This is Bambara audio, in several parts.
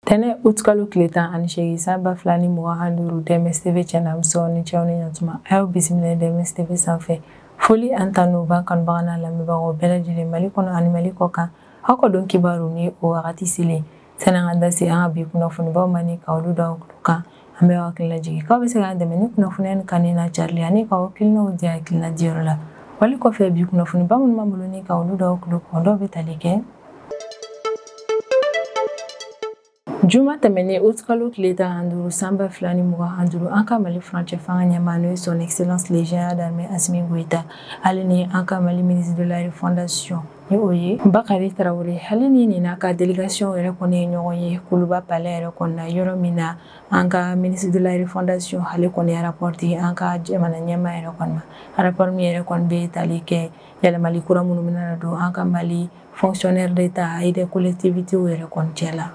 ntɛnɛn utikalo tile tan ani seegin san ba fila ni mugan ani duuru dɛmɛs tv cɛna muso ni cɛw ni ɲatuma an y'aw bisimila dɛmɛs tv sanfɛ foli an tanu b'an kanubaga n'an lamɛnbagaw bɛɛ lajɛlen mali kɔnɔ ani mali kɔ kan aw ka don kibaru ni o wagati selen sani an ka da se an ka bi kunnafonibaw ma ni ka olu da aw tulo kan an b'aw hakili lajigin k'aw bɛ se k'an dɛmɛ ni kunnafoniya ni kanni na carili ani k'aw hakilinaw di hakilina diyɔrɔ la wali kɔfɛ bi kunnafoniba minnu b'an bolo ni ka olu da aw tulo kan dɔw bɛ tali kɛ juma tɛmɛnen utikalo tile tan ani duuru san ba fila ni mugan ani duuru an ka mali furancɛ fanga ɲɛmaa n'o ye son excellence le général d'armée asimi goyita hali ni an ka mali ministre de la refondation ni o ye bakari tarawele hali ni nin n'a ka délégation yɛrɛ kɔni ye ɲɔgɔn ye kuluba palɛ yɛrɛ kɔnɔna yɔrɔ min na an ka ministre de la refondation ale kɔni ye rapport di an ka jamana ɲɛmaa yɛrɛ kɔni ma rapport min yɛrɛ kɔni bɛ tali kɛ yɛlɛmali kura minnu bɛna don an ka mali fonctionnaires d'état et des collectivités yɛrɛ kɔni cɛ la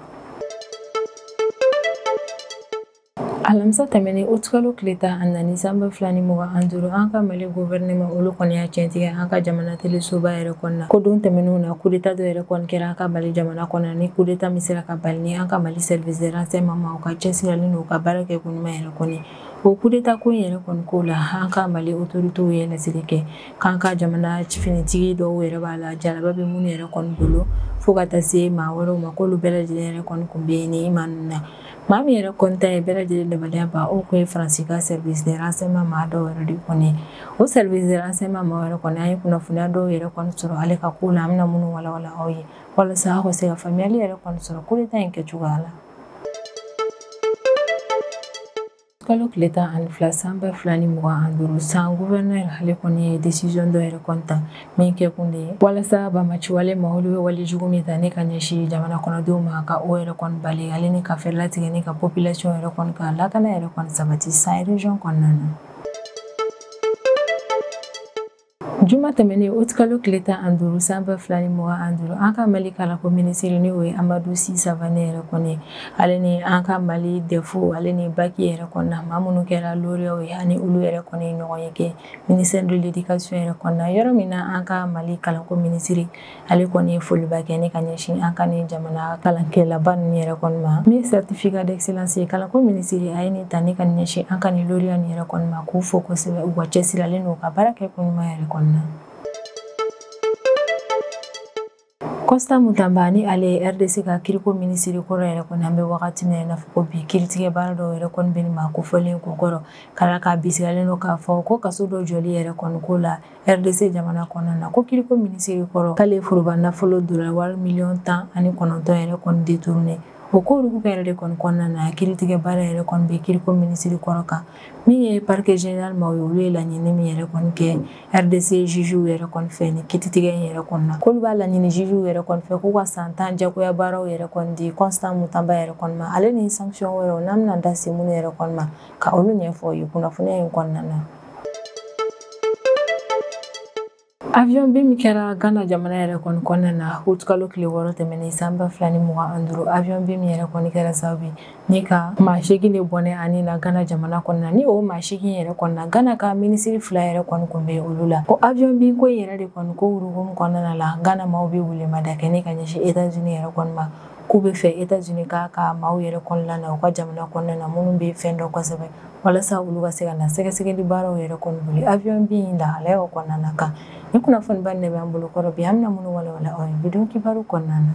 alamisa tɛmɛnen utikalo tile tan ani naani san ba fila ni mugan an duuru an ka mali guvɛrɛnɛma olu kɔni y'a tiɲɛtigiya an ka jamana telesoba yɛrɛ kɔnɔna ko don tɛmɛnenw na kudeta dɔ yɛrɛ kɔni kɛra an ka mali jamana kɔnɔ ni kudeta min sera ka bali ni an ka mali service de renseignement maaw ka cɛsirili n'u ka baara kɛ koɲuman yɛrɛ kɔni o kudeta ko in yɛrɛ kɔni ko la an ka mali otoritew ye laseli kɛ k'an ka jamana finitigi dɔw yɛrɛ b'a la jalaba bɛ minnu yɛrɛ kɔni bolo fo ka taa se maa wɛrɛw ma k'olu bɛɛ lajɛlen yɛrɛ kɔni kun bɛ yen ni maa ninnu na Maa min yɛrɛ kɔni tun ye bɛɛ lajɛlen dabaliyabaa o tun ye faransi ka service de renseignement maa dɔ yɛrɛ de kɔni o service de renseignement maa yɛrɛ kɔni an ye kunnafoniya dɔw yɛrɛ kɔni sɔrɔ ale ka ko la an bɛna minnu walawala aw ye walasa aw ka se ka faamuyali yɛrɛ kɔni sɔrɔ kudeta in kɛ cogoya la kalo tile tan ani fila san ba fila ni mugan an duuru san guvɛrnɛr ale kɔni ye desizɔn dɔ yɛrɛ kɔni ta min kɛ kun de ye walasa banbaanciwale maa olu bɛ wale jugu min ta ni ka ɲɛsin jamana kɔnɔdenw ma ka o yɛrɛ kɔni bali ale ni ka fɛrɛ latigɛ ni ka population yɛrɛ kɔni ka lakana yɛrɛ kɔni sabati san region kɔnɔna na Juma tɛmɛnen utikalo tile tan an duuru san ba fila ni mugan an duuru an ka mali kalanko minisiri ni o ye amadu si savane yɛrɛ kɔni ale ni an ka mali dɛfu ale ni baki yɛrɛ kɔnɔna maa minnu kɛra loriyaw ye ani olu yɛrɛ kɔni ye ɲɔgɔnye kɛ ministère de l'éducation yɛrɛ kɔnɔna yɔrɔ min na an ka mali kalanko minisiri ale kɔni ye foliba kɛ ni ka ɲɛsin an ka ni jamana kalankɛlaba ninnu yɛrɛ kɔni ma ni certificat d'excellence ye kalanko minisiri a ye nin ta ni ka ɲɛsin an ka ni loriya ni yɛrɛ kɔni ma k'u fo kosɛbɛ u ka cɛsirili n'u ka baara kɛ koɲuman yɛrɛ kɔni na Constant Mutamba ni ale ye RDC ka kiriko minisiri kɔrɔ yɛrɛ kɔni an bɛ wagati min na ko bi kiritigɛ baara dɔw yɛrɛ kɔni bɛ maa kofɔlen kun kɔrɔ k'a la k'a bisigilen don k'a fɔ ko kaso dɔ jɔli yɛrɛ kɔni ko la rdc jamana kɔnɔna na ko kiriko minisiri kɔrɔ k'ale foroba nafolo dollar wari miliyɔn tan ani kɔnɔntɔn yɛrɛ kɔni detourne o ko olu ka yɛrɛ de kɔni kɔnɔna na kiritigɛ baara yɛrɛ kɔni bɛ kiriko minisiri kɔrɔ kan min ye parquet general maaw ye olu ye laɲini min yɛrɛ kɔni kɛ rdc jujuw yɛrɛ kɔni fɛ ni kiritigɛ in yɛrɛ kɔni na k'olu b'a laɲini jujuw yɛrɛ kɔni fɛ k'u ka san tan jagoya baaraw yɛrɛ kɔni di constant mutamba yɛrɛ kɔni ma ale ni sanction wɛrɛw n'an bɛna da se minnu yɛrɛ kɔni ma ka olu ɲɛfɔ aw ye kunnafoniya in kɔnɔna na avion bin min kɛra ghana jamana yɛrɛ kɔni kɔnɔna na aout kalo tile wɔɔrɔ tɛmɛnen san ba fila ni mugan ani duuru avion bin min yɛrɛ kɔni kɛra sababu ye ni ka maa seegin de bɔnɛ a ni na ghana jamana kɔnɔna ni o maa seegin yɛrɛ kɔni na ghana ka minisiri fila yɛrɛ kɔni kun bɛ olu la o avion bin ko yɛrɛ de kɔni ko hukumu kɔnɔna la ghana maaw bɛ welemada kɛ ne ka ɲɛsin etats unis yɛrɛ kɔni ma k'u b'a fɛ etats unis k'a ka maaw yɛrɛ kɔni na u ka jamana kɔnɔna na minnu bɛ fɛn dɔn kosɛbɛ walasa olu ka se ka na sɛgɛsɛgɛli baaraw yɛrɛ kɔni boli avion bin in lahalayaw kɔnɔna na kan ni kunnafoniba nin de bɛ an bolo kɔrɔ bi an bɛna minnu walawala aw ye bi don kibaru kɔnɔna na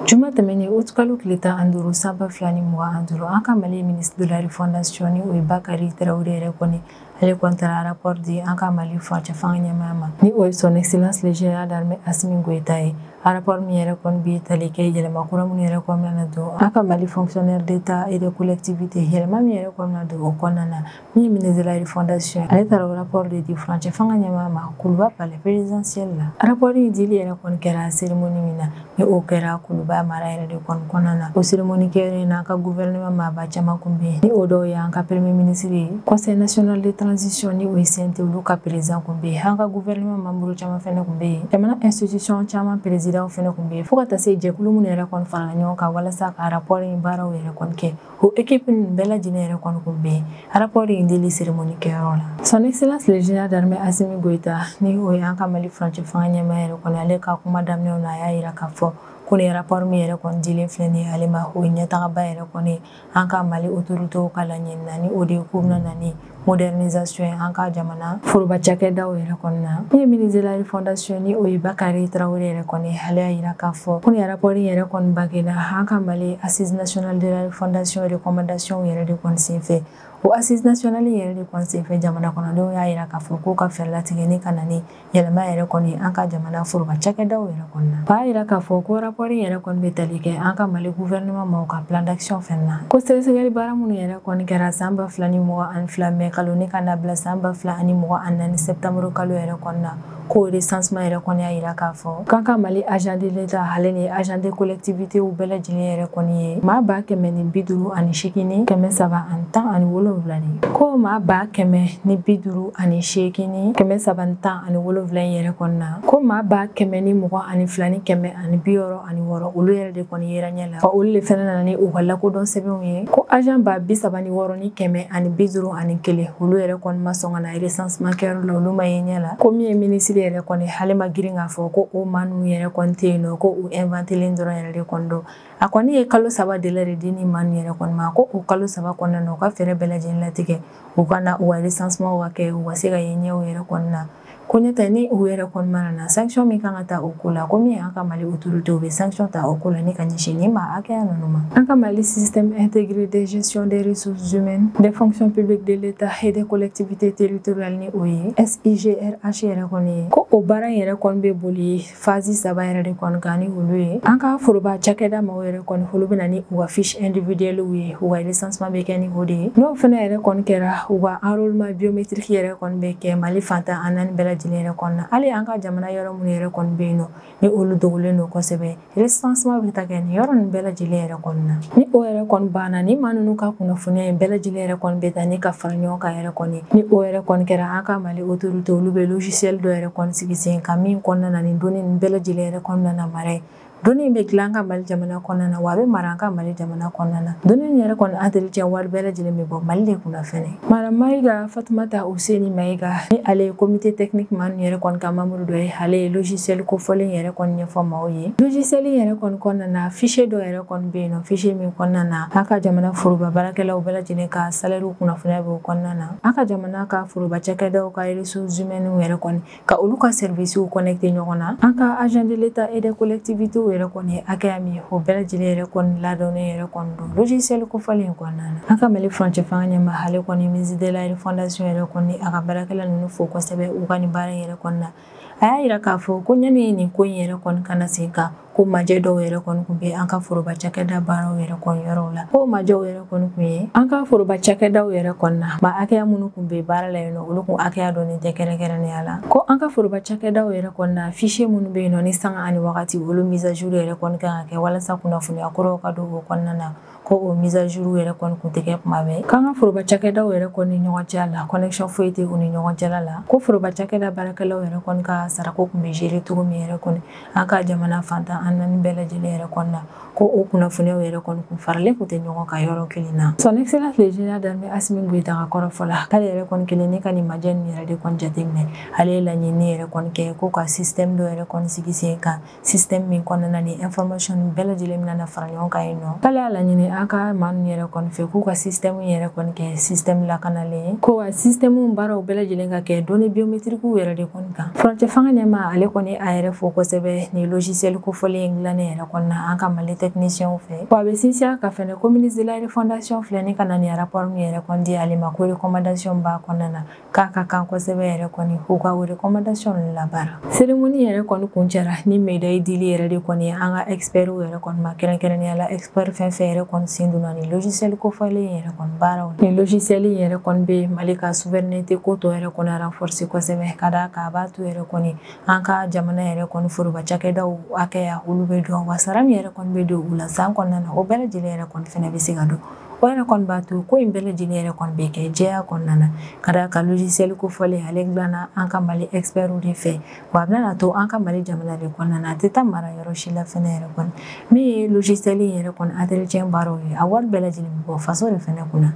juma tɛmɛnen août kalo tile tan ani duuru sanba fila ni mugan ani duuru an ka mali ministre de la refondation ni o ye bakari traoré yɛrɛ kɔni ale kɔni taara rapport di an ka mali furancɛ fanga ɲɛmaa ma ni o ye son excellence le général d'armée asimi goyita ye rapport min yɛrɛ kɔni bɛ tali kɛ yɛlɛma kura minnu yɛrɛ kɔni nana don an ka mali fonctionnaire d'état et de collectivité yɛlɛma min yɛrɛ kɔni na don o kɔnɔna na min ye ministre de la refondation ale taara o rapport de di furancɛ fanga ɲɛmaa ma kuluba palais présidentiel la rapport in dili yɛrɛ kɔni kɛra cérémonie min na ni o kɛra kuluba mara yɛrɛ de kɔni kɔnɔna na o seremoni kɛyɔrɔ in na an ka guvɛrɛnɛman maaba caman kun bɛ yen ni o dɔw ye an ka premye minisiri ye conseil national de transition ni o ye cnt olu ka perezidan kun bɛ yen an ka guvɛrɛnɛman manburu caman fɛnɛ kun bɛ yen jamana institution caman perezidanw fɛnɛ kun bɛ yen fo ka taa se jɛkulu minnu yɛrɛ kɔni farala ɲɔgɔn kan walasa ka rapport in baaraw yɛrɛ kɔni kɛ O équipe ninnu bɛɛ lajɛlen yɛrɛ kɔni kun bɛ rapport in dili cérémonie kɛyɔrɔ la. Son Excellence le Général d'armée Assimi Goïta ni o ye an ka Mali furancɛ fanga ɲɛmaa yɛrɛ kɔni ale ka kuma daminɛw na a y'a yira k'a fɔ ko nin rapport min yɛrɛ kɔni dilen filɛ nin ye ale ma o ye ɲɛtagaba yɛrɛ kɔni an ka Mali autorités ka laɲini na ni o de ye k'u bɛna na ni modernisation ye an ka jamana foroba cakɛdaw yɛrɛ kɔni na min ye ministre de la refondation ni o ye bakari traoré yɛrɛ kɔni ale y'a yira k'a fɔ ko nin rapport yɛrɛ kɔni bangena an ka mali assise national de la refondation recommandation yɛrɛ de kɔni sen fɛ o assise national yɛrɛ de kɔni sen fɛ jamana kɔnɔdenw y'a yira k'a fɔ k'u ka fɛɛrɛ latigɛ ni ka na ni yɛlɛma yɛrɛ kɔni an ka jamana foroba cakɛdaw yɛrɛ kɔni na b'a yira k'a fɔ ko rapɔri yɛrɛ kɔni bɛ tali kɛ an ka mali guvɛrɛnɛman maaw ka plan d'action fɛnɛ na ko sɛgɛsɛgɛli baara minnu yɛrɛ kɔni kɛra san ba fila ni mugan ani fila mɛ kalo ni ka na bila san ba fila ani mugan ani naani sɛptanburu kalo yɛrɛ kɔni na ko recensement yɛrɛ kɔni y'a yira k'a fɔ k'an ka mali agent de l'état ale ni agent de collectivitéw bɛɛ lajɛlen yɛrɛ kɔni ye maa ba kɛmɛ ni bi duuru ani seegin ni kɛmɛ saba ani tan ani wolonwula de ko maa ba kɛmɛ ni bi duuru ani seegin ni kɛmɛ saba ni tan ani wolonfila in yɛrɛ kɔnɔna na ko maa ba kɛmɛ ni mugan ani fila ni kɛmɛ ani bi wɔɔrɔ ani wɔɔrɔ olu yɛrɛ de kɔni yera ɲɛ la wa olu le fɛnɛ nana ni u ka lakodɔn sɛbɛnw ye ko agent ba bi saba ni wɔɔrɔ ni kɛmɛ ani bi duuru ani kelen olu yɛrɛ kɔni ma sɔn ka na recensement kɛyɔrɔ la olu ma ye ɲɛ la ko min ye minisiri yɛrɛ kɔni ale ma girin k'a fɔ ko o maa ninnu yɛrɛ kɔni tɛ yen nɔ ko u inventelen dɔrɔn yɛrɛ de kɔni don a kɔni ye kalo saba délai de di ni maa ninnu yɛrɛ kɔni ma ko o kalo saba kɔnɔna na u ka fɛɛrɛ bɛɛ lajɛlen latigɛ u ka na u ka recensementw ka kɛ u ka se ka ye ɲɛw yɛrɛ kɔni na ko n'o tɛ ni u yɛrɛ kɔni ma na sanction min kan ka ta o ko la ko min y'an ka mali autorité u bɛ sanction ta o ko la ni ka ɲɛsin ni maa hakɛya ninnu ma an ka mali système intégré de gestion des ressources humaines des fonctions publiques de l'état et des collectivités territoriales ni o ye SIGRH yɛrɛ kɔni ye ko o baara in yɛrɛ kɔni bɛ boli phase saba yɛrɛ de kɔni kan ni olu ye an ka foroba cakɛda maaw yɛrɛ kɔni olu bɛ na ni u ka fiche individuellew ye u ka recensement bɛ kɛ ni o de ye n'o fana yɛrɛ kɔni kɛra u ka enrôlement biométrique yɛrɛ kɔni bɛ kɛ mali fan tan ani naani bɛɛ lajɛlen yɛrɛ kɔni na hali an ka jamana yɔrɔ minnu yɛrɛ kɔni bɛ yen nɔ ni olu dogolen don kosɛbɛ recensement bɛ ta kɛ nin yɔrɔ ninnu bɛɛ lajɛlen yɛrɛ kɔni na ni o yɛrɛ kɔni banna ni maa ninnu ka kunnafoniya in bɛɛ lajɛlen yɛrɛ kɔni bɛ ta ni ka fara ɲɔgɔn kan yɛrɛ kɔni ni o yɛrɛ kɔni kɛra an ka mali Autorité olu bɛ logiciel dɔ yɛrɛ kɔni sigi sen kan min kɔnɔna na ni données ninnu bɛɛ lajɛlen yɛrɛ kɔnɔna na mara ye données bɛ dilan an ka mali jamana kɔnɔna na wa a bɛ mara an ka mali jamana kɔnɔna na données yɛrɛ kɔni entretien wari bɛɛ lajɛlen bɛ bɔ mali de kun fɛnɛ madame maïga fatumata useni maïga ni ale ye comité technique maa ninnu yɛrɛ kɔni ka membre dɔ ye ale ye logiciel kofɔlen yɛrɛ kɔni ɲɛfɔ maaw ye logiciel yɛrɛ kɔni kɔnɔna na fichier dɔ yɛrɛ kɔni bɛ yen nɔ fichier min kɔnɔna na an ka jamana foroba baarakɛlaw bɛɛ lajɛlen ka salaire kunnafoniya bɛ o kɔnɔna na An ka jamana ka foroba cakɛdaw ka ressources humaines yɛrɛ kɔni ka olu ka services connecter ɲɔgɔn na, an ka agents de l'Etat et des collectivités yɛrɛ kɔni hakɛya min, o bɛɛ lajɛlen yɛrɛ kɔni ladɔnnen yɛrɛ kɔni don logiciel kofɔlen in kɔnɔna na. An ka Mali furancɛfanga ɲɛmaa ale kɔni ministre de la refondation yɛrɛ kɔni a ka baarakɛla ninnu fo kosɛbɛ u ka nin baara in yɛrɛ kɔni na. a y'a yira k'a fɔ ko ɲani nin ko in yɛrɛ kɔni ka na sen kan ko majɛ dɔw yɛrɛ kɔni kun bɛ an ka foroba cakɛda baaraw yɛrɛ kɔni yɔrɔw la ko majɛw yɛrɛ kɔni kun ye an ka foroba cakɛdaw yɛrɛ kɔni na maa hakɛya minnu kun bɛ baara la yen nɔ olu kun hakɛya dɔnnen tɛ kɛrɛnkɛrɛnnenya la ko an ka foroba cakɛdaw yɛrɛ kɔni na fichier minnu bɛ yen nɔ ni sanga ani wagati olu mise à jour yɛrɛ kɔni kan ka kɛ walasa kunnafoniya kuraw ka don o kɔnɔna na ko o mise à jour yɛrɛ kɔni kun tɛ kɛ kuma bɛɛ k'an ka foroba cakɛdaw yɛrɛ kɔni ni ɲɔgɔn cɛ la connexion foyi tɛ u ni ɲɔgɔn cɛla la ko foroba cakɛda baarakɛlaw yɛrɛ kɔni ka sarako kun bɛ gérer cogo min yɛrɛ kɔni an ka jamana fan tan ani naani bɛɛ lajɛlen yɛrɛ kɔni na ko o kunnafoniyaw yɛrɛ kɔni kun faralen kun tɛ ɲɔgɔn kan yɔrɔ kelen na son excellence le général d'armée asimi goyita ka kɔrɔfɔ la k'ale yɛrɛ kɔni kɛlen ne ka nin majɛ nin yɛrɛ de kɔni jateminɛ ale ye laɲini yɛrɛ kɔni kɛ ko ka système dɔ yɛrɛ kɔni sigi sen kan système min kɔnɔna ni information bɛɛ lajɛlen bɛna na fara ɲɔgɔn kan yen nɔ k'ale y'a laɲini an ka maa ninnu yɛrɛ kɔni fɛ k'u ka système yɛrɛ kɔni kɛ système lakanalen ye ko wa système baaraw bɛɛ lajɛlen ka kɛ données biométriques yɛrɛ de kɔni kan furancɛ fanga ɲɛmaa ale kɔni a yɛrɛ fo kosɛbɛ ni logiciel kofɔlen in dilannen yɛrɛ kɔni na an ka mali technicienw fɛ wa a bɛ sinsin a kan fɛnɛ ko ministre de la refondation filɛ ni ka na ni rapport min yɛrɛ kɔni di ale ma ko recommandation b'a kɔnɔna na k'a ka kan kosɛbɛ yɛrɛ kɔni u ka o recommandation labaara cérémonie yɛrɛ kɔni kuncɛra ni médaille dili yɛrɛ de kɔni an ka expertw yɛrɛ kɔni ma kɛrɛnkɛrɛnnenya la expert fɛn fɛn yɛrɛ kɔni sen donna ni logiciel kofɔlen yɛrɛ kɔni baaraw ni logiciel yɛrɛ kɔni bɛ mali ka souveraineté ko tɔ yɛrɛ kɔni renforcer kosɛbɛ ka d'a kan a b'a to yɛrɛ kɔni an ka jamana yɛrɛ kɔni foroba cakɛdaw hakɛya olu bɛ dɔn wa sara min yɛrɛ kɔni bɛ don u la san kɔnɔna na o bɛɛ lajɛlen yɛrɛ kɔni fana bɛ se ka dɔn o yɛrɛ kɔni b'a to ko in bɛɛ lajɛlen yɛrɛ kɔni bɛ kɛ jɛya kɔnɔna na ka d'a kan logiciel kofɔlen ale dilanna an ka mali expertw de fɛ wa a bɛna to an ka mali jamana de kɔnɔna na a tɛ taa mara yɔrɔ si la fɛnɛ yɛrɛ kɔni min ye logiciel in yɛrɛ kɔni entretien baaraw ye a wari bɛɛ lajɛlen bɛ bɔ faso de fɛnɛ kunna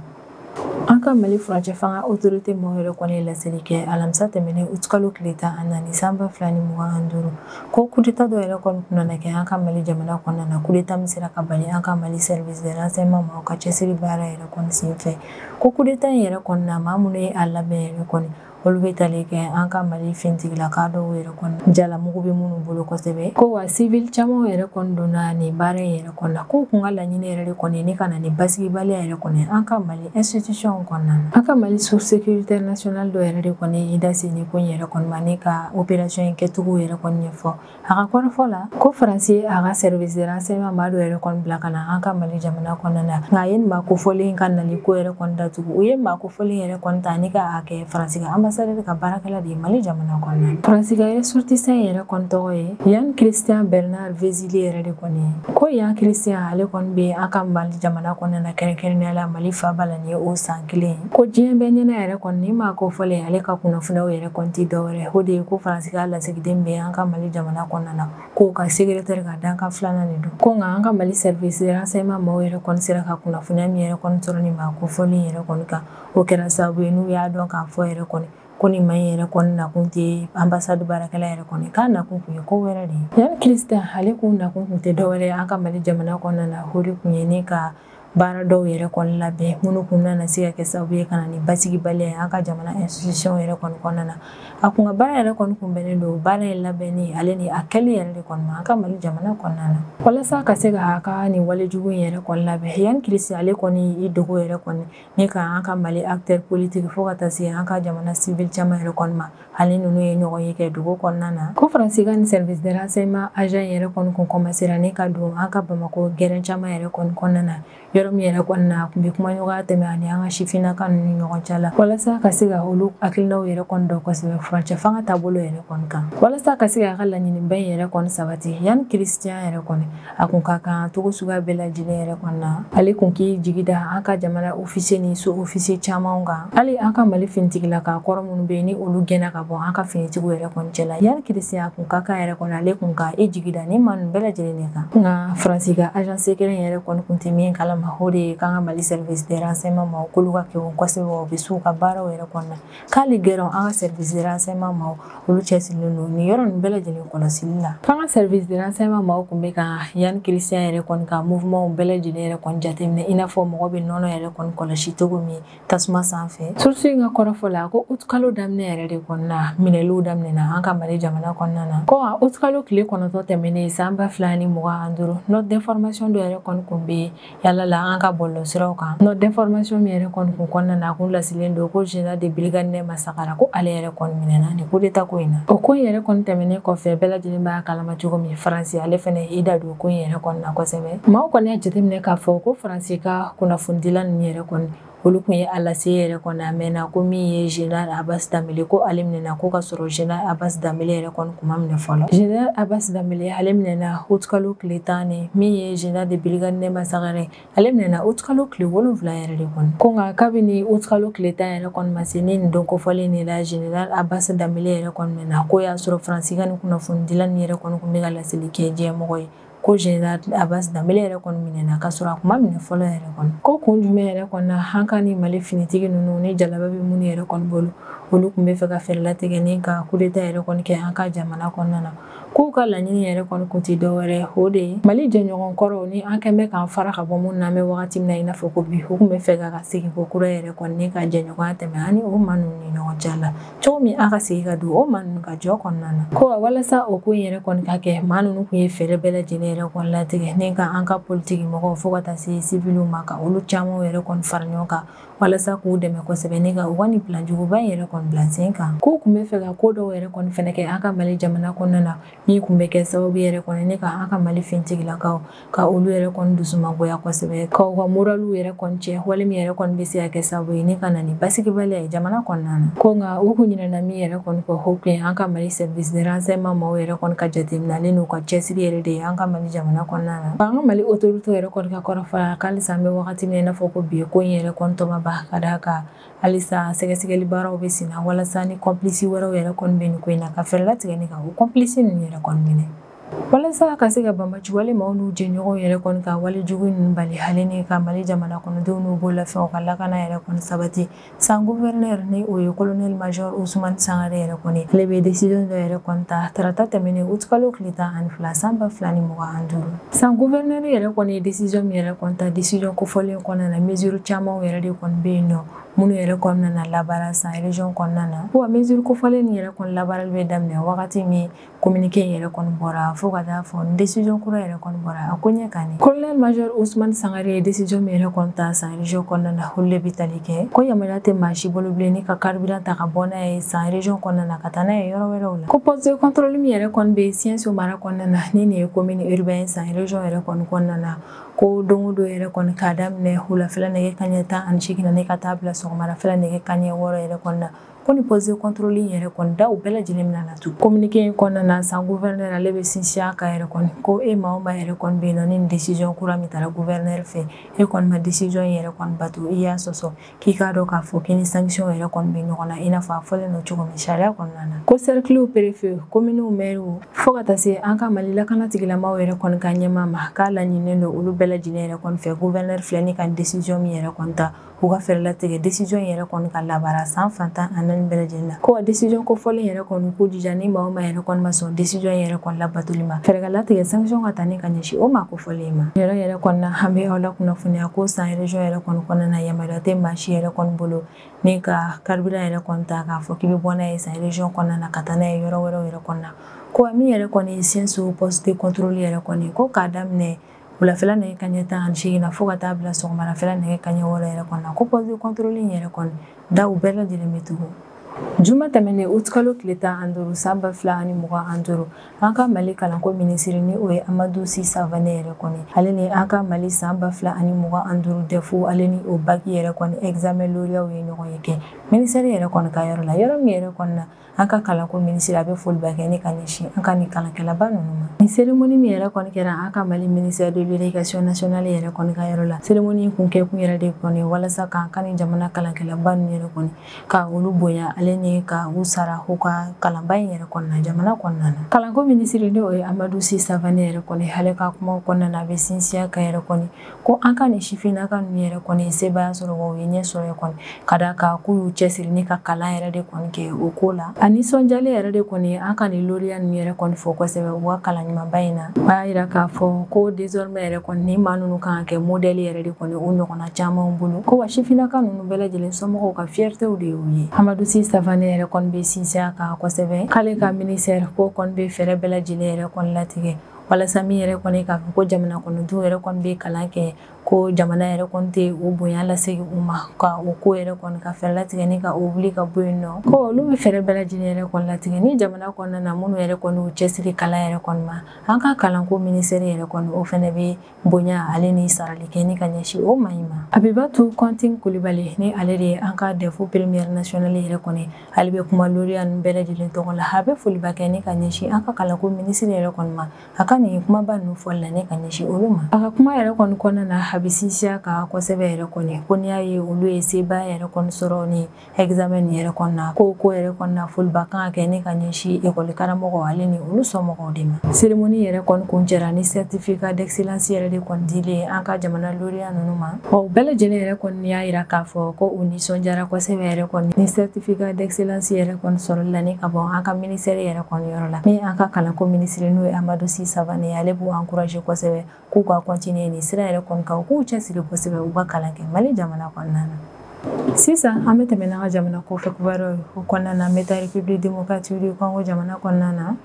an ka mali furancɛ fanga autorité mɔgɔw yɛrɛ kɔni ye laseli kɛ alamisa tɛmɛnen utikalo tile tan ani naani san ba fila ni mugan ani duuru ko kudeta dɔ yɛrɛ kɔni kun nana kɛ an ka mali jamana kɔnɔna na kudeta min sera ka bali an ka mali service de renseignement maaw ka cɛsiri baara yɛrɛ kɔni sen fɛ ko kudeta in yɛrɛ kɔni na maa minnu ye a labɛn yɛrɛ kɔni olu bɛ tali kɛ an ka mali fintigilaka dɔw yɛrɛ kɔni jalamugu bɛ minnu bolo kosɛbɛ ko wa civil caman yɛrɛ kɔni donna nin baara in yɛrɛ kɔni na ko kun ka laɲini yɛrɛ de kɔni ne ka na ni basigibaliya yɛrɛ kɔni an ka mali institution kɔnɔna na an ka mali source sécurité nationale dɔ yɛrɛ de kɔni i da se ni ko in yɛrɛ kɔni ma ne ka opération in kɛcogo yɛrɛ kɔni ɲɛfɔ a ka kɔrɔfɔ la ko faransi a ka service de renseignement maa dɔ yɛrɛ kɔni bila ka na an ka mali jamana kɔnɔna na nka a ye nin maa kofɔlen ka nali ko yɛrɛ kɔni datugu u ye maa kofɔlen yɛrɛ kɔni ta ne ka a kɛ faransi ka ambassadeur ka baarakɛla de ye mali jamana kɔnɔna na faransi ka ressortissant yɛrɛ kɔni tɔgɔ ye yann christian bernard vézi dili yɛrɛ de kɔni ye ko yann christian ale kɔni bɛ an ka mali jamana kɔnɔna na kɛrɛnkɛrɛnnenya la mali faaba la nin ye o san kelen ko diɲɛ bɛɛ ɲɛna yɛrɛ kɔni ni maa kofɔlen ale ka kunnafoniyaw yɛrɛ kɔni tɛ dɔwɛrɛ o de ye ko faransi ka lasigiden bɛ an ka mali jamana kɔnɔna na k'o ka secrétaire ka dankan filanan de don ko nka an ka mali service de renseignement maaw yɛrɛ kɔni sera ka kunnafoniya min yɛrɛ kɔni sɔrɔ ni maa kofɔlen yɛrɛ kɔni kan o kɛra sababu ye n'u y'a dɔn k'a fɔ yɛrɛ kɔni ko nin maa yɛrɛ kɔni nakun tɛ ambassade baarakɛla yɛrɛ kɔni k'a nakun kun ye ko wɛrɛ de ye yann christian ale kun nakun kun tɛ dɔwɛrɛ ye an ka mali jamana kɔnɔna na o de kun ye ni ka baara dɔw yɛrɛ kɔni labɛn minnu kun nana se ka kɛ sababu ye ka na ni basigibaliya ye an ka jamana institution yɛrɛ kɔni kɔnɔna na a kun ka baara yɛrɛ kɔni kun bɛnnen don baara in labɛnni ale ni a kɛli yɛrɛ de kɔni ma an ka mali jamana kɔnɔna na walasa ka se k'a ka nin walejugu yɛrɛ kɔni labɛn yann christian ale kɔni i dogo yɛrɛ kɔni ni ka an ka mali acteur politique fo ka taa se an ka jamana civil caman yɛrɛ kɔni ma ani ninnu ye ɲɔgɔnye kɛ dugu kɔnɔna na ko faransi ka nin service de renseignement agent yɛrɛ kɔni kun kɔmasera ni ka don an ka bamako gɛrɛn caman yɛrɛ kɔni kɔnɔna na yɔrɔ min yɛrɛ kɔni na a kun bɛ kumaɲɔgɔnya tɛmɛ ani an ka sifinnaka nunu ɲɔgɔn cɛ la walasa ka se ka olu hakilinaw yɛrɛ kɔni dɔn kosɛbɛ furancɛ fanga taabolo yɛrɛ kɔni kan walasa ka se k'a ka laɲiniba yɛrɛ kɔni sabati yann christian yɛrɛ kɔni a kun ka kan cogo suguya bɛɛ lajɛlen yɛrɛ kɔni na ale kun k'i jigi da an ka jamana officier ni sous officier camanw kan hali an ka mali finitigilaka kɔrɔ minnu bɛ ni olu gɛnna ka bɔ an ka finitigiw yɛrɛ kɔni cɛla yann christian a kun ka kan yɛrɛ kɔni ale kun ka i jigi da nin maa ninnu bɛɛ lajɛlen de kan nka faransi ka agent secret yɛrɛ kɔni kun tɛ min kalama o de ye k'an ka mali service de renseignement maaw k'olu ka kegun kosɛbɛ u bɛ s'u ka baaraw yɛrɛ kɔni na k'hali gɛrɛn an ka service de renseignement maaw olu cɛsirilen don nin yɔrɔ nin bɛɛ lajɛlen kɔlɔsili la k'an ka service de renseignement maaw kun bɛ ka yann christian yɛrɛ kɔni ka mouvement bɛɛ lajɛlen yɛrɛ kɔni jateminɛ i n'a fɔ mɔgɔ bɛ nɔnɔ yɛrɛ kɔni kɔlɔsi cogo min tasuma sanfɛ source in ka kɔrɔfɔ la ko août kalo daminɛ yɛrɛ de kɔni na minɛliw daminɛna an ka mali jamana kɔnɔna na ko août kalo tile kɔnɔntɔn tɛmɛnen san ba fila ni mugan ani duuru note d'information dɔ yɛrɛ kɔni kun bɛ yaala la an ka bɔlɔlɔsiraw kan note d'information min yɛrɛ kɔni kun kɔnɔna na a kun lasilen don ko général de brigade nɛma sagara ko ale yɛrɛ kɔni minɛna nin kudeta ko in na o ko in yɛrɛ kɔni tɛmɛnen kɔfɛ bɛɛ lajɛlen b'a kalama cogo min faransi ale fɛnɛ i da don ko in yɛrɛ kɔni na kosɛbɛ maaw kɔni y'a jateminɛ k'a fɔ ko faransi ka kunnafonidila ninnu yɛrɛ kɔni olu kun ye a lase yɛrɛ kɔni a mɛnna ko min ye général Abbas Dambele ko ale minɛna ko k'a sɔrɔ général Abbas Dambele yɛrɛ kɔni kun ma minɛ fɔlɔ général Abbas Dambele ale minɛna août kalo tile tan ni min ye général de brigade nɛma sagara ale minɛna août kalo tile wolonfila yɛrɛ de kɔni ko nka kabini août kalo tile tan yɛrɛ kɔni ma se ni nin don kofɔlen de la général Abbas Dambele yɛrɛ kɔni minɛna ko y'a sɔrɔ faransi ka nin kunnafonidilan nin yɛrɛ kɔni kun bɛ ka laseli kɛ diɲɛmɔgɔ ye ko général Abbas Dambele yɛrɛ kɔni minɛna k'a sɔrɔ a kun ma minɛ fɔlɔ yɛrɛ kɔni ko kun jumɛn yɛrɛ kɔni na an ka nin mali finitigi ninnu ni jalaba bɛ minnu yɛrɛ kɔni bolo olu kun bɛ fɛ ka fɛɛrɛ latigɛ ni ka kudeta yɛrɛ kɔni kɛ an ka jamana kɔnɔna na k'u ka laɲini yɛrɛ kɔni kun tɛ dɔwɛrɛ o de ye mali jɛɲɔgɔn kɔrɔw ni an kɛn bɛ k'an fara ka bɔ minnu na an bɛ wagati min na i n'a fɔ ko bi u kun bɛ fɛ ka segin kokura yɛrɛ kɔni ka jɛɲɔgɔnya tɛmɛ ani o maa ninnu ni ɲɔgɔn cɛ la cogo min a ka segin ka don o maa ninnu ka jɔ kɔnɔna na ko wa walasa o ko in yɛrɛ kɔni ka kɛ maa ninnu kun ye fɛɛrɛ bɛɛ lajɛlen yɛrɛ kɔni latigɛ ni ka an ka politiki mɔgɔw fo ka taa se siviliw ma ka olu camanw yɛrɛ kɔni fara ɲɔgɔn kan walasa k'u dɛmɛ kosɛbɛ ni ka u ka nin plan juguba in yɛrɛ kɔni bila sen kan k'u kun bɛ fɛ ka ko dɔw yɛrɛ kɔni fɛnɛ kɛ an ka mali jamana kɔnɔna na min kun bɛ kɛ sababu yɛrɛ kɔni ni ka an ka mali finitigilakaw ka olu yɛrɛ kɔni dusumangoya kosɛbɛ ka u ka moraliw yɛrɛ kɔni cɛn wale min yɛrɛ kɔni bɛ se ka kɛ sababu ye ni ka na ni basigibaliya ye jamana kɔnɔna na ko nka u kun ɲinɛna min yɛrɛ kɔni kɔ o kun ye an ka mali service de renseignement maaw yɛrɛ kɔni ka jateminɛlen n'u ka cɛsiri yɛrɛ de ye an ka mali jamana kɔnɔna na an ka mali autorité yɛrɛ kɔni ka kɔrɔfɔ la k'halisa an bɛ wagati min i n'a fɔ ko bi ko in yɛrɛ kɔni tɔ ma ban ka d'a kan halisa sɛgɛsɛgɛli baaraw bɛ senna walasa ni complice wɛrɛw yɛrɛ kɔni bɛ nin ko in na ka fɛɛrɛ latigɛ ni ka o complice ninnu yɛrɛ kɔni minɛ walasa ka se ka banbaanci wale maaw n'u jɛɲɔgɔnw yɛrɛ kɔni ka wale jugu ninnu bali hali ni ka mali jamana kɔnɔdenw n'u bololafɛnw ka lakana yɛrɛ kɔni sabati san gouverneur ni o ye colonel major ousmane sangare yɛrɛ kɔni ale bɛ décision dɔ yɛrɛ kɔni ta tarata tɛmɛnen utikalo tile tan ani fila san ba fila ni mugan ni duuru san gouverneur yɛrɛ kɔni ye décision min yɛrɛ kɔni ta décision kofɔlen kɔnɔna na mesure camanw yɛrɛ de kɔni bɛ yen nɔ minnu yɛrɛ kɔnɔna na labaara san région kɔnɔna na wa mesure kofɔlen nin yɛrɛ kɔni labaarali bɛ daminɛ wagati min communiqué in yɛrɛ kɔni bɔra fo ka taa fɔ décision kura yɛrɛ kɔni bɔra a ko ɲɛ kan ni colonel major ousmane sangare ye décision min yɛrɛ kɔni ta san région kɔnɔna na olu de bɛ tali kɛ ko yamaruya tɛ maa si bolo bilen ni ka carburant ta ka bɔ n'a ye san région kɔnɔna na ka taa n'a ye yɔrɔ wɛrɛw la ko poste de contrôle min yɛrɛ kɔni bɛ siɛnso mara kɔnɔna na ni nin ye commune urbain san région yɛrɛ kɔni kɔnɔna na ko don o don yɛrɛ kɔni k'a daminɛ wulafɛla nɛgɛ kaɲɛ tan ani seegin na ni ka taa bila sɔgɔmadafɛla nɛgɛ kaɲɛ wɔɔrɔ yɛrɛ kɔnɔna na ko ni poste contrôle in yɛrɛ kɔni daw bɛɛ lajɛlen bɛna datugu communiqué in kɔnɔna na san gouverneur ale bɛ sinsin a kan yɛrɛ kɔni ko e maa o maa yɛrɛ kɔni bɛ yen nɔ ni nin décision kura min tara gouverneur fɛ e kɔni ma décision in yɛrɛ kɔni bato i y'a sɔsɔ k'i k'a dɔn k'a fɔ k'i ni sanction yɛrɛ kɔni bɛ ɲɔgɔn na i n'a fɔ a fɔlen don cogo min sariya kɔnɔna na ko sɛrikiliw perefe kominiw mɛriw fo ka taa se an ka mali lakana tigilamaaw yɛrɛ kɔni ka ɲɛmaa ma k'a laɲininen don olu bɛɛ lajɛlen yɛrɛ kɔni fɛ gouverneur filɛ ni ka décision min yɛrɛ kɔni ta k'u ka fɛɛrɛ latigɛ décision in yɛrɛ kɔni ka labaara san fan tan ani naani bɛɛ lajɛlen na ko ka décision kofɔlen yɛrɛ kɔni k'u jija ni maa o maa yɛrɛ kɔni ma sɔn décision in yɛrɛ kɔni labatoli ma fɛɛrɛ ka latigɛ sanction ka ta ni ka ɲɛsin o maa kofɔlen ma yɛrɛ yɛrɛ kɔni na an bɛ aw lakunnafoniya ko san région yɛrɛ kɔni kɔnɔna na yamaruya tɛ maa si yɛrɛ kɔni bolo ni ka carburant yɛrɛ kɔni ta k'a fɔ k'i bɛ bɔ n'a ye san région kɔnɔna na ka taa n'a ye yɔrɔ wɛrɛw yɛrɛ kɔnɔna ko min yɛrɛ kɔni ye siɛnso poste contrôle yɛrɛ kɔni ko k'a daminɛ wulafɛla nɛgɛ kanɲɛ tan ani seegin na fo ka taa bila sɔgɔmadafɛla nɛgɛ kanɲɛ wɔɔrɔ yɛrɛ kɔnɔna na ko poste de contrôle in yɛrɛ kɔni daw bɛɛ lajɛlen bɛ tugu juma tɛmɛnen uti kalo tile tan an duuru san ba fila ani mugan an duuru an ka mali kalanko minisiri ni o ye amadu si savane yɛrɛ kɔni ale ni an ka mali san ba fila ani mugan an duuru dɛfu ale ni o baki yɛrɛ kɔni examen loriyaw ye ɲɔgɔn ye kɛ minisɛri yɛrɛ kɔni ka yɔrɔ la yɔrɔ min yɛrɛ kɔni na an ka kalanko minisiri a bɛ foliba kɛ ni ka ɲɛsin an ka nin kalankɛlaba ninnu ma nin seremoni min yɛrɛ kɔni kɛra an ka mali minisɛri de l'éducation nationale yɛrɛ kɔni ka yɔrɔ la seremoni in kun kɛkun yɛrɛ de kɔni walasa k'an ka nin jamana kalankɛlaba ninnu yɛrɛ kɔni ka olu bonya ale ni ka u sara u ka kalanba in yɛrɛ kɔnɔna jamana kɔnɔna na kalanko minisiri ni o ye amadu si savane yɛrɛ kɔni ale ka kumaw kɔnɔna na a bɛ sinsin a kan yɛrɛ kɔni ko an ka nin sifinnaka ninnu yɛrɛ kɔni sebaaya sɔrɔ wa u ye ɲɛ sɔrɔ yɛrɛ kɔni ka da kan k'u y'u cɛsiri ni ka kalan yɛrɛ de kɔni kɛ o ko la a nisɔndiyalen yɛrɛ de kɔni an ka nin loriya ninnu yɛrɛ kɔni fo kosɛbɛ u ka kalan ɲumanba in na a y'a yira k'a fɔ ko désormais yɛrɛ kɔni nin maa ninnu kan ka kɛ modɛli yɛrɛ de kɔni u ɲɔgɔnna camanw bolo ko wa sifinnaka ninnu bɛɛ lajɛlen somɔgɔw ka fiyɛritew de y'u ye amadu si savane yɛrɛ kɔni bɛ sinsin a kan kosɛbɛ k'ale ka minisɛri ko kɔni bɛ fɛɛrɛ bɛɛ lajɛlen yɛrɛ kɔni latigɛ walasa min yɛrɛ kɔni k'a fɔ ko jamana kɔnɔdenw yɛrɛ kɔni bɛ kalan kɛ ko jamana yɛrɛ kɔni tɛ o bonya lasegin u ma ka o ko yɛrɛ kɔni ka fɛɛrɛ latigɛ ni ka o wuli ka bɔ yen nɔ ko olu bɛ fɛɛrɛ bɛɛ lajɛlen yɛrɛ kɔni latigɛ ni jamana kɔnɔna na minnu yɛrɛ kɔni y'u cɛsiri kalan yɛrɛ kɔni ma an ka kalanko minisɛri yɛrɛ kɔni o fɛnɛ bɛ bonya ale ni sarali kɛ ni ka ɲɛsin o maa in ma abibatu kɔntin kulibali ni ale de ye an ka dɛfu première nationale yɛrɛ kɔni ale bɛ kuma loriya nin bɛɛ lajɛlen tɔgɔ la a bɛ foliba kɛ ni ka ɲɛsin an ka kalanko minisiri yɛrɛ kɔni ma a ka nin kumaba ninnu fɔli la ni ka ɲɛsin olu ma a ka kuma yɛrɛ kɔni kɔnɔna na a bɛ sinsin a kan kosɛbɛ yɛrɛ kɔni ko n'i y'a ye olu ye sebaaya yɛrɛ kɔni sɔrɔ ni examen nin yɛrɛ kɔni na ko o ko yɛrɛ kɔni na foliba kan ka kɛ ni ka ɲɛsin ekɔli karamɔgɔw ale ni olu somɔgɔw de ma seremoni yɛrɛ kɔni kuncɛra ni certificat d'excellence yɛrɛ de kɔni dili ye an ka jamana loriya ninnu ma u bɛɛ lajɛlen yɛrɛ kɔni y'a yira k'a fɔ ko u nisɔndiyara kosɛbɛ yɛrɛ kɔni ni certificat d'excellence yɛrɛ kɔni sɔrɔli la ni ka bɔ an ka minisɛri yɛrɛ kɔni yɔrɔ la ni an ka kalanko minisiri n'o ye amadu si savane ale b'u encourager kosɛbɛ k'u ka kɔntiniye nin sira yɛrɛ kɔni kan u k'u cɛsiri kosɛbɛ u ka kalan kɛ mali jamana kɔnɔna na sisan an bɛ tɛmɛ n'an ka jamana kɔfɛ kibaruw ye o kɔnɔna na an bɛ taa République démocratique du congo jamana kɔnɔna na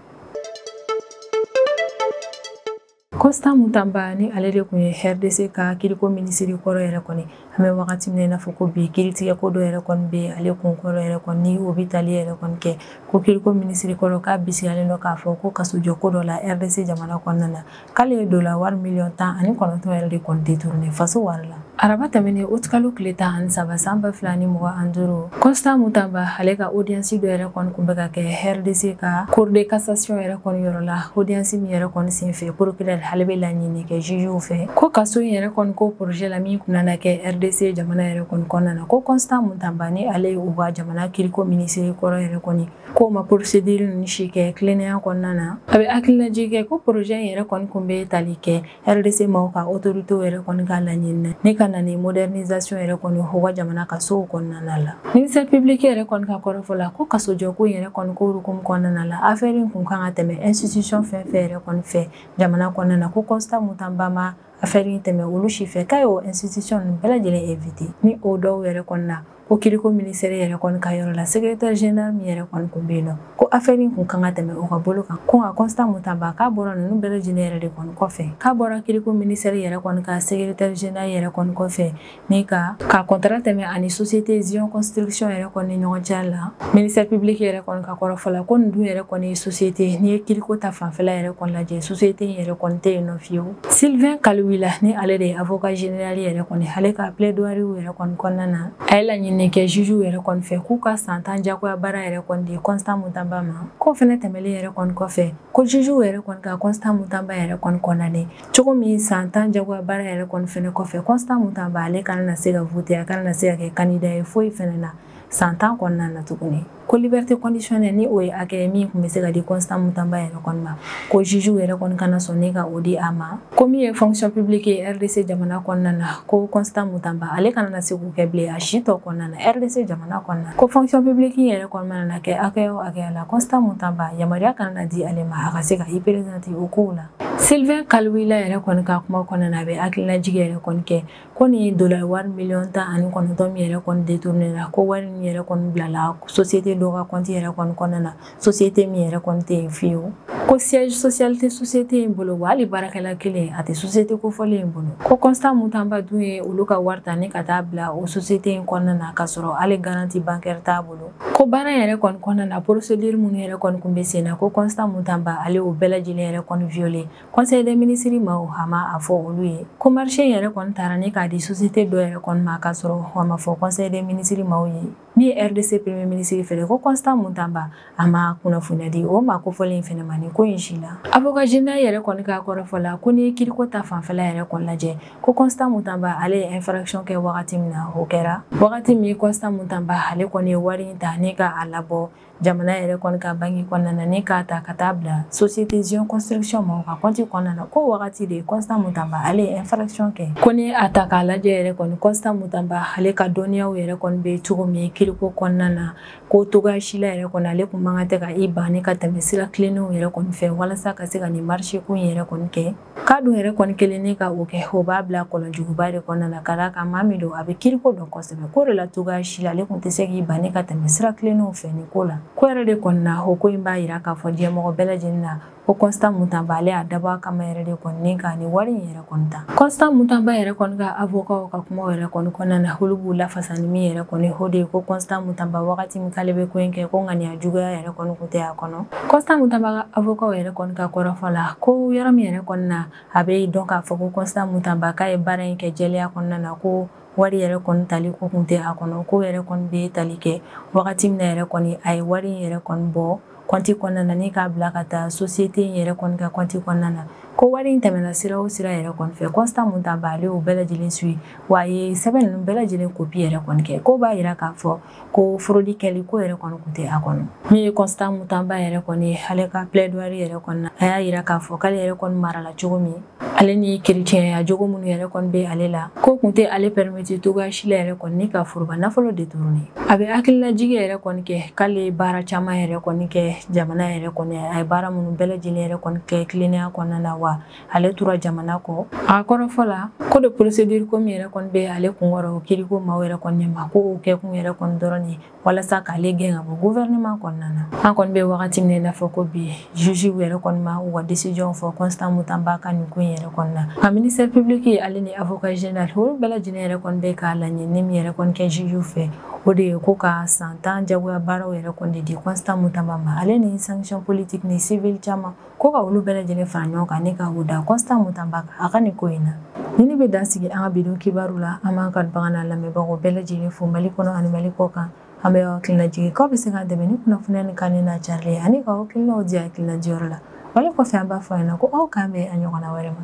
Constant Mutamba ni ale de tun ye RDC ka kiriko minisiri kɔrɔ yɛrɛ kɔni an bɛ wagati min na i n'a fɔ ko bi kiritigɛ ko dɔ yɛrɛ kɔni bɛ ale kun kɔrɔ yɛrɛ kɔni ni o bɛ tali yɛrɛ kɔni kɛ ko kiriko minisiri kɔrɔ k'a bisigilen don k'a fɔ ko kasojɔ ko dɔ la RDC jamana kɔnɔna na k'ale ye dola wari miliyɔn tan ani kɔnɔntɔn yɛrɛ de kɔni détourné faso wari la araba tɛmɛnen utkalo tile tan ani saba san ba fila ni mugan duuru constant mutamba ale ka odiyansi dɔ yɛrɛ kɔni kun bɛ ka kɛ rdc ka cour de cassation yɛrɛ kɔni yɔrɔ la odiyansi min yɛrɛ kɔni sen fɛ procureur ale bɛ laɲini kɛ jugew fɛ ko kaso in yɛrɛ kɔni ko projet la min kun nana kɛ rdc jamana yɛrɛ kɔni kɔnɔna na ko constant mutamba ni ale ye u ka jamana kiriko minisiri kɔrɔ yɛrɛ kɔni k'o ma procédure ninnu si kɛ tilennenya kɔnɔna na a bɛ hakililajigin kɛ ko projet in yɛrɛ kɔni kun bɛ tali kɛ rdc maaw ka otoritew yɛrɛ kɔni ka laɲini na ni ka na ni modernisation yɛrɛ kɔni u ka jamana kasow kɔnɔna la ministère public yɛrɛ kɔni ka kɔrɔfɔ la ko kasojɔko in yɛrɛ kɔni ko hukumu kɔnɔna la affaire in kun kan ka tɛmɛ institution fɛn fɛn yɛrɛ kɔni fɛ jamana kɔnɔna na ko constant mutamba ma affaire in tɛmɛ olu si fɛ k'a y'o institution ninnu bɛɛ lajɛlen évité ni o dɔw yɛrɛ kɔni na ko kiriko ministère yɛrɛ kɔni ka yɔrɔ la secrétaire général min yɛrɛ kɔni kun bɛ yen nɔ ko affaire in kun kan ka tɛmɛ o ka bolo kan ko nka constant mutamba k'a bɔra ninnu bɛɛ lajɛlen yɛrɛ de kɔni kɔfɛ k'a bɔra kiriko ministère yɛrɛ kɔni ka secrétaire général yɛrɛ kɔni kɔfɛ ni ka ka contrat tɛmɛ ani société zion construction yɛrɛ kɔni ni ɲɔgɔn cɛ la ministère public yɛrɛ kɔni ka kɔrɔfɔ la ko nin dun yɛrɛ kɔni société n'i ye kiriko ta fanfɛla yɛrɛ kɔni lajɛ société in yɛrɛ kɔni tɛ yen nɔ fiyewu sylvain kaluila ni ale de ye avocat général yɛrɛ kɔni ale ka plaidoirie yɛrɛ kɔni kɔnɔna na a ye laɲini kɛ jugew yɛrɛ kɔni fɛ k'u ka san tan jagoya baara yɛrɛ kɔni di constant mutamba ma k'o fɛnɛ tɛmɛlen yɛrɛ kɔni kɔfɛ ko jugew yɛrɛ kɔni ka constant mutamba yɛrɛ kɔni condamné cogo min san tan jagoya baara yɛrɛ kɔni fɛnɛ kɔfɛ constant mutamba ale kana na se ka voter a kana na se ka kɛ candidat ye foyi fɛnɛ na san tan kɔnɔna na tuguni ko liberté conditionnelle ni o ye hakɛ ye min kun bɛ se ka di constant mutamba yɛrɛ kɔni ma ko jugew yɛrɛ kɔni kana sɔn ni ka o di a ma ko min ye fonction publique ye rdc jamana kɔnɔna na ko constant mutamba ale kana na se k'o kɛ bilen a si tɔ kɔnɔna na rdc jamana kɔnɔna na ko fonction publique yɛrɛ kɔni mana na kɛ hakɛya o hakɛya la constant mutamba yamaruya kana na di ale ma a ka se ka i présenter o kow la Sylvain Kaluila yɛrɛ kɔni ka kuma kɔnɔna na, a bɛ hakililajigin yɛrɛ kɔni kɛ ko nin ye dollars wari miliyɔn tan ani kɔnɔntɔn min yɛrɛ kɔni détourné la ko wari in yɛrɛ kɔni bilala société dɔ ka compte yɛrɛ kɔni kɔnɔna na, société min yɛrɛ kɔni tɛ yen fiyewu, ko siège social tɛ société in bolo wa hali baarakɛla kelen a tɛ société kofɔlen in bolo, ko Constant Mutamba dun ye olu ka wari ta ni ka taa bila o société in kɔnɔna na k'a sɔrɔ hali garantie bancaire t'a bolo. ko baara yɛrɛ kɔni kɔnɔna na procédure minnu yɛrɛ kɔni kun bɛ sen na ko Constant Mutamba ale y'o bɛɛ lajɛlen yɛrɛ kɔni violé conseil des ministres maaw a ma a fɔ olu ye ko marché yɛrɛ kɔni taara ni k'a di société dɔ yɛrɛ kɔni ma k'a sɔrɔ a ma fɔ conseil des ministres maaw ye min ye rdc premier ministre fɛnɛ ko Constant Mutamba a ma kunnafoniya di o maa kofɔlen fɛnɛ ma nin ko in si la avocat général yɛrɛ kɔni ka kɔrɔfɔ la ko n'i ye kiriko ta fanfɛla yɛrɛ kɔni lajɛ ko constant mutamba ale ye infraction kɛ wagati min na o kɛra wagati min constant mutamba ale kɔni ye wari in ta ni ka a labɔ jamana yɛrɛ kɔni ka banki kɔnɔna na ni k'a ta ka taa bila société zion construction ma u ka kɔnti kɔnɔna na ko wagati de constant mutamba ale ye infraction kɛ ko ni a ta k'a lajɛ yɛrɛ kɔni constant mutamba ale ka dɔnniyaw yɛrɛ kɔni bɛ cogo min kiriko kɔnɔna na ko togoya si la yɛrɛ kɔni ale kun man kan tɛ ka i ban ni ka tɛmɛ sira tilennenw yɛrɛ kɔni fɛ walasa ka se ka nin marché ko in yɛrɛ kɔni kɛ k'a dun yɛrɛ kɔni kelen ni ka o kɛ o b'a bila kɔlɔnjuguba de kɔnɔna na ka d'a kan maa min don a bɛ kiriko dɔn kosɛbɛ ko de la togoya si la ale kun tɛ se k'i ban ni ka tɛmɛ sira tilennenw fɛ nin ko la ko yɛrɛ de kɔni na o ko in b'a yira k'a fɔ diɲɛmɔgɔ bɛɛ lajɛlen na ko constant mutamba ale y'a dabɔ a kama yɛrɛ de kɔni ni ka nin wari in yɛrɛ kɔni ta constant mutamba yɛrɛ kɔni ka avokaw ka kuma yɛrɛ kɔni kɔnɔna na olu b'u lafasa ni min yɛrɛ kɔni o de ye ko constant mutamba wagati min k'ale bɛ ko in kɛ ko ŋaniya juguya yɛrɛ kɔni tɛ a kɔnɔ constant mutamba ka avokaw yɛrɛ kɔni ka kɔrɔfɔ la ko yɔrɔ min yɛrɛ kɔni na a bɛ dɔn k'a fɔ ko constant mutamba k'a ye baara in kɛ jɛlenya kɔnɔna na ko wari yɛrɛ kɔni tali ko kun tɛ a kɔnɔ ko yɛrɛ kɔni bɛ tali kɛ wagati min yɛrɛ kɔni a ye wari in yɛrɛ kɔni bɔ kɔnti kɔnɔna na ni k'a bila ka taa société in yɛrɛ kɔni ka kɔnti kɔnɔna na ko wari in tɛmɛna sira o sira yɛrɛ kɔni fɛ constant mutamba ale o bɛɛ lajɛlen suivi wa a ye sɛbɛn ninnu bɛɛ lajɛlen kopi yɛrɛ kɔni kɛ ko b'a yira k'a fɔ ko fraude kɛli ko yɛrɛ kɔni kun tɛ a kɔnɔ min ye constant mutamba yɛrɛ kɔni ye ale ka plaidoirie yɛrɛ kɔni na a y'a yira k'a fɔ k'ale yɛrɛ kɔni marala cogo min ale ni kerecɛnya jogo minnu yɛrɛ kɔni bɛ ale la ko kun tɛ ale permettre togoya si la yɛrɛ kɔni ni ka foroba nafolo détourner a bɛ hakililajigi yɛrɛ kɔni kɛ k'ale ye baara caman yɛrɛ kɔni kɛ jamana yɛrɛ kɔni a ye baara minnu bɛɛ lajɛlen yɛrɛ kɔni kɛ tilennenya kɔnɔna na wa ale tora jamana kɔ a kɔrɔfɔ la ko de procédure ko min yɛrɛ kɔni bɛ ale kunkɔrɔ o kiriko maaw yɛrɛ kɔni ma ko o kɛkun yɛrɛ kɔni dɔrɔn de walasa k'ale gɛn ka bɔ gouvernement kɔnɔna na an kɔni bɛ wagati min na i n'a fɔ ko bi juge yɛrɛ kɔni ma u ka décision fɔ constant mutamba ka nin ko in yɛrɛ kɔni na ka ministère public ale ni avocat général olu bɛɛ lajɛlen yɛrɛ kɔni bɛ ka laɲini min yɛrɛ kɔni kɛ juge fɛ o de ye ko ka san tan jagoya baaraw yɛrɛ kɔni de di constant mutamba ma ale ni sanction politique ni civil caman ko ka olu bɛɛ lajɛlen fara ɲɔgɔn kan ni ka o da constant mutamba kan a ka nin ko in na nin in bɛ dan sigi an ka bi don kibaru la an b'an kanubagaw n'an lamɛnbagaw bɛɛ lajɛlen fo mali kɔnɔ ani mali kɔkan an bɛ aw hakilina jigin k'aw bɛ se k'an dɛmɛ ni kunnafoniya nin kanuni n'a carili ye ani ka aw hakilinaw di hakilina diyɔrɔ la wale kɔfɛ an b'a fɔ aw ɲɛna ko aw k'an bɛn a ɲɔgɔnna wɛrɛ ma